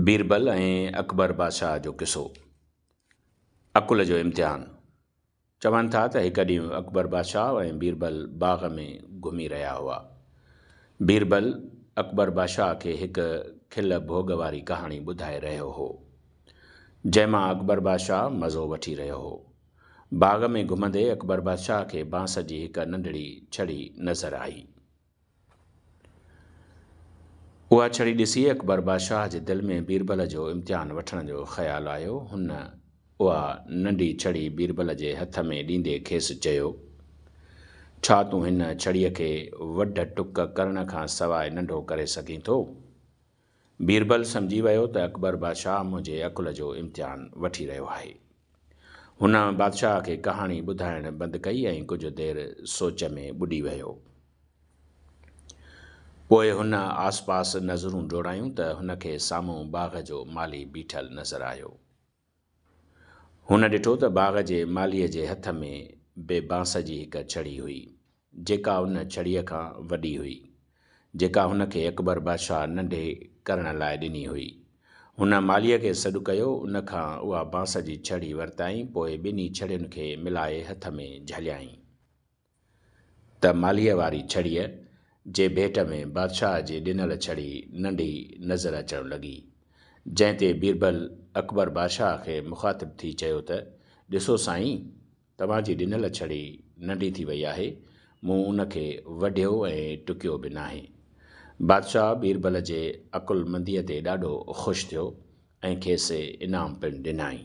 بيربل ۽ اڪبر بادشاهه جو قصو، عقل جو امتحان، چون ٿا ته هڪ ڏينهن اڪبر بادشاهه ۽ بيربل باغ ۾ گهمي رهيا هئا. بيربل اڪبر بادشاهه کي هڪ کل ڀوڳ واري ڪهاڻي ٻڌائي رهيو هو. جنهن مان اڪبر بادشاهه مزو وٺي رهيو هو. باغ ۾ گهمندي اڪبر بادشاهه کي بانس جي هڪ ننڍڙي ڇڙي نظر آئي. اها ڇڙي ڏسي اڪبر بادشاهه جي دل ۾ بيربل جو امتحان وٺڻ جو خيال آيو. هن اها ننڍي ڇڙي بيربل جي هٿ ۾ ڏيندي کيس چيو، ڇا تون هن ڇڙيء کي وڍ ٽڪ ڪرڻ کان سواء ننڍو ڪري سگهين ٿو؟ بيربل سمجهي ويو ته اڪبر بادشاهه منهنجي عقل جو امتحان وٺي رهيو آهي. هن بادشاهه کي ڪهاڻي ٻڌائڻ بند ڪئي ۽ ڪجهه دير سوچ ۾ ٻڏي ويو. پوء هن آسپاس نظرون ڊوڙايون ته هن کي سامهون باغ جو مالي بيٺل نظر آيو. هن ڏٺو ته باغ جي مالهيء جي هٿ ۾ به بانس جي هڪ ڇڙي هئي، جيڪا ان ڇڙيء کان وڏي هئي، جيڪا هن کي اڪبر بادشاهه ننڍي ڪرڻ لاء ڏني هئي. هن مالهيء کي سڏ ڪيو، ان کان اها بانس جي ڇڙي ورتائين، پوء ٻنهي ڇڙين کي ملائي هٿ ۾ جهليائين. ته مالهيء واري ڇڙيء جي ڀيٽ ۾ بادشاهه جي ڏنل ڇڙي ننڍي نظر اچڻ لڳي. جنهن تي بيربل اڪبر بادشاهه کي مخاطب ٿي چيو ته، ڏسو سائين! توهان جي ڏنل ڇڙي ننڍي ٿي وئي آهي، مون ان کي وڍيو ۽ ٽڪيو به ناهي. بادشاهه بيربل جي عقلمنديء تي ڏاڍو خوش ٿيو ۽ کيس انعام پڻ ڏنائين.